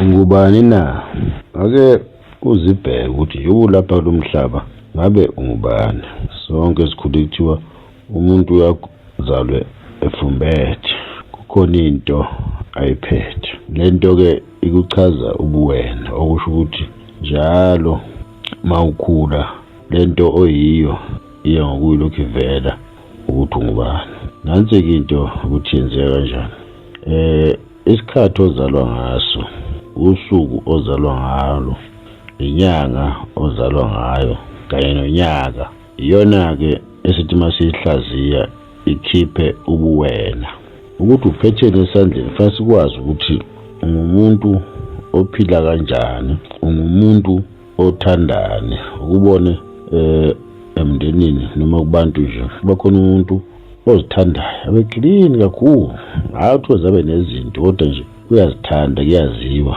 Ungubani na? Ake uzibheke ukuthi nje ulapha kulo mhlaba ngabe ungubani. Sonke sikhule kuthiwa umuntu uyazalwe efumbethe, kukhona into ayiphethe. Le nto-ke ikuchaza ubuwena, okusho ukuthi njalo uma ukhula le nto oyiyo iya ngokuyilokhu ivela ukuthi ungubani. Nansi-ke into ukuthi yenzeka kanjani. Um Isikhathi ozalwa ngaso, usuku ozalwa ngalo, inyanga ozalwa ngayo kanye nonyaka. Iyona-ke esithi uma siyihlaziya ikhiphe ubuwena. Ukuthi uphetheni esandleni fanele sikwazi ukuthi ungumuntu ophila kanjani, ungumuntu othandani ukubone eh emndenini noma kubantu nje kuba khona umuntu ozithandayo abe clean kakhulu hayi ukuthi zabe nezinto kodwa nje uyazithanda kuyaziwa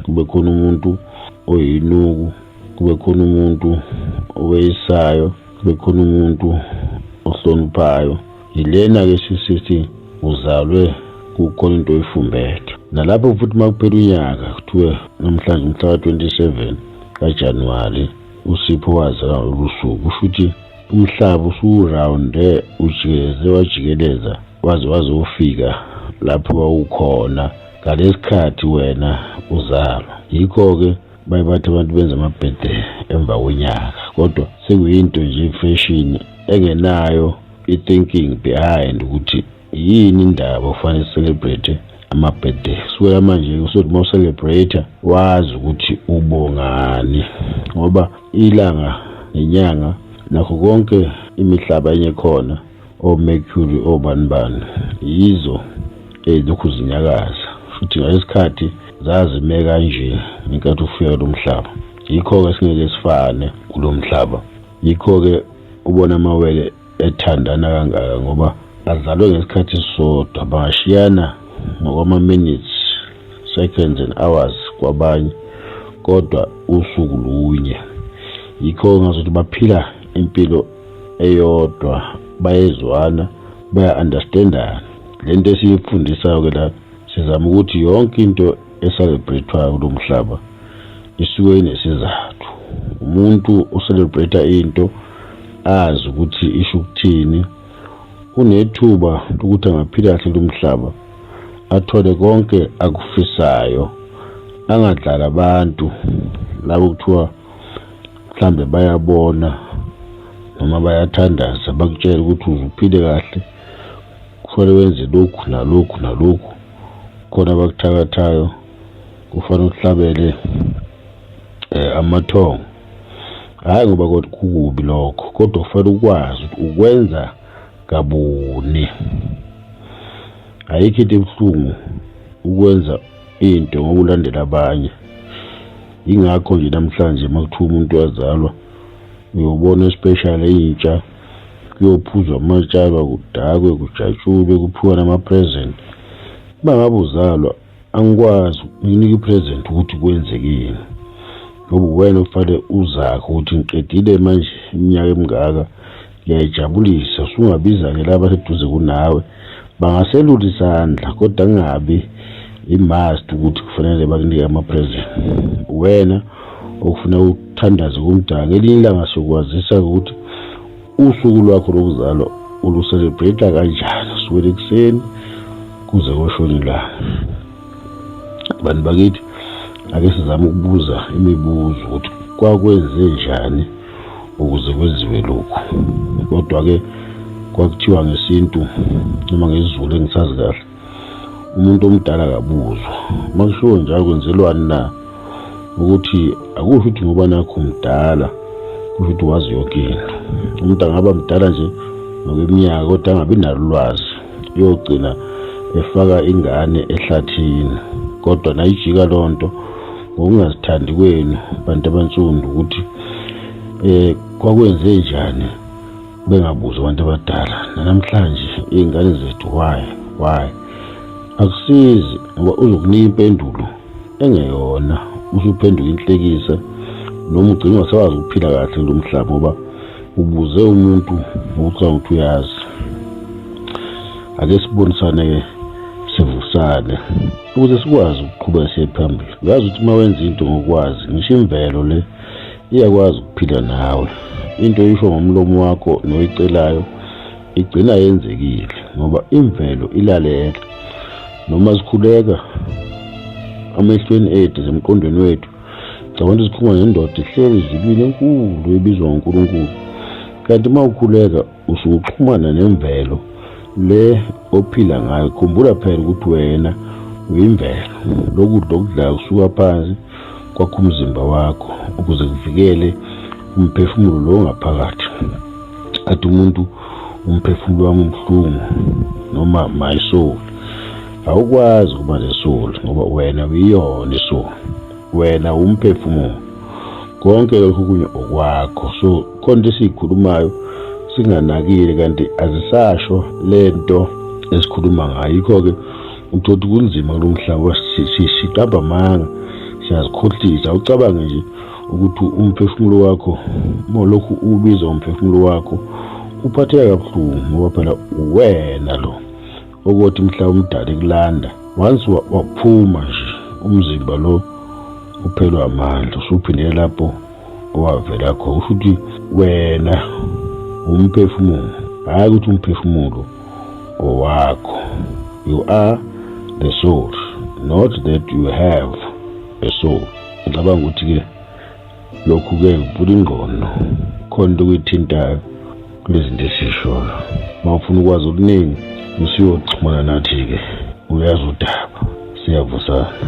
kube khona umuntu oyinuku kube khona umuntu oweyisayo kube khona umuntu ohloniphayo Yilena ke sisithi uzalwe kukhona into oyifumbethe nalapho futhi uma kuphela unyaka kuthiwe namhlanje umhla ka-27 kajanuwari usipho wazalwa lolu suku kusho ukuthi umhlaba usuwurawunde ujikeleze wajikeleza waze wazofika lapho wawukhona ngalesikhathi wena uzalwa yikho-ke baye bathi abantu benza amabhede emva konyaka kodwa sekuyinto nje ifeshini engenayo i-thinking behind ukuthi yini indaba ufanele celebrate amabhede sibeka manje usothi uma ucelebrate wazi ukuthi ubongani ngoba ilanga nenyanga nakho konke imihlaba enye khona omercury obani bani yizo ezilokhu zinyakaza futhi ngalesikhathi zazime kanje ngenkathi ufika lo mhlaba yikho-ke singeke sifane kulo mhlaba Yikho-ke ubona amawele ethandana kangaka ngoba azalwe ngesikhathi sisodwa bangashiyana ngokwama-minutes seconds and hours kwabanye kodwa usuku lunye yikho ngazothi baphila impilo eyodwa bayezwana baya-understandana le nto esiyifundisayo-ke la sizama ukuthi yonke into eselebrethwayo kulo mhlaba isuke inesizathu umuntu uselebretha into azi ukuthi isho ukuthini unethuba lokuthi angaphila kahle lo mhlaba athole konke akufisayo angadlala abantu labo kuthiwa mhlambe bayabona noma bayathandaza bakutshela ukuthi uzuphile kahle kufanele wenze lokhu nalokhu nalokhu khona abakuthakathayo kufanele uhlabele eh amathongo hayi ngoba kodwa kukubi lokho kodwa ufanele ukwazi ukuthi ukwenza kabuni ayikho into ebuhlungu ukwenza into ngokulandela abanye ingakho nje namhlanje makuthiwa umuntu wazalwa uyobona especially intsha kuyophuzwa amatshaba kudakwe kujatshulwe kuphiwa nama-present uba ngabe uzalwa angikwazi nginika i-present ukuthi kwenzekeni ngoba uwena okufanele uzakhe ukuthi ngiqedile manje iminyaka emingaka ngiyayijabulisa usungabiza-ke laba seduze kunawe bangaselula isandla kodwa kungabi imust ukuthi kufanele bakunike ama-present wena okufuna ukuthandaze kumdala ngelinye ilanga siyokwazisa ukuthi usuku lwakho lokuzalwa uluselebrate kanjani suwele ekuseni kuze koshona ilanga bantu bakithi ake sizame ukubuza imibuzo ukuthi kwakwenze njani ukuze kwenziwe lokhu kodwa-ke kwakuthiwa ngesintu noma ngezulu engisazi kahle umuntu omdala akabuzwa uma kushiwo njalo kwenzelwani na ukuthi akusho ukuthi ngoba nakho mdala kusho ukuthi wazi yonke into umuntu angaba mdala nje ngokweminyaka kodwa angabi nalo ulwazi uyogcina efaka ingane ehlathini kodwa nayijika loo nto ngokungazithandi kwenu bantu abansundu ukuthi um kwakwenze njani bengabuzi abantu abadala nanamhlanje iy'ngane zethu why why akusizi ngoba uzokunika impendulo engeyona usuphenduka inhlekisa noma ugcina ungasawazi ukuphila kahle kulo mhlaba ngoba ubuze umuntu ukuthi awuthi uyazi ake sibonisane-ke sivusane ukuze sikwazi ukuqhuba siye phambili ngazi ukuthi uma wenza into ngokwazi ngisho imvelo le iyakwazi ukuphila nawe into oyisho ngomlomo wakho noyicelayo igcina yenzekile ngoba imvelo ilalela noma sikhuleka amehlweni ethu zemqondweni wethu Cabanga ukuthi sikhuluma nendoda ihleli ezulwini enkulu ebizwa ngoNkulunkulu. Kanti uma ukhuleka usuke uxhumana nemvelo le ophila ngayo. Khumbula phela ukuthi wena uyimvelo. Lokudla okudlayo kusuka phansi kwakho umzimba wakho ukuze kuvikele umphefumulo lo ngaphakathi. Athi umuntu umphefumulo wami ubuhlungu noma my soul. awukwazi ukuba nesulu ngoba wena uyiyona isulu wena umphefumulo konke lokhu kunye okwakho so khona esiyikhulumayo singanakile kanti azisasho lento esikhuluma ngayo yikho-ke uthola ukuthi kunzima kulo mhlaba siqamba amanga siyazikhohlisa ucabange nje ukuthi umphefumulo wakho uma lokhu ubiza umphefumulo wakho uphatheka kabuhlungu ngoba phela uwena lo ukuthi mhla umdala ekulanda once waphuma nje umzimba lo uphelwa amandla usuphindele lapho owavela kho usho ukuthi wena umphefumulo hhayi ukuthi umphefumulo ngowakho you are the soul not that you have a soul ngicabanga ukuthi-ke lokhu-ke ngivula ingqondo khona into okuyithintayo kulezinto esiyishoyo uma ufuna ukwazi okuningi usuyoxhumana nathi-ke uyazi udaba siyavusana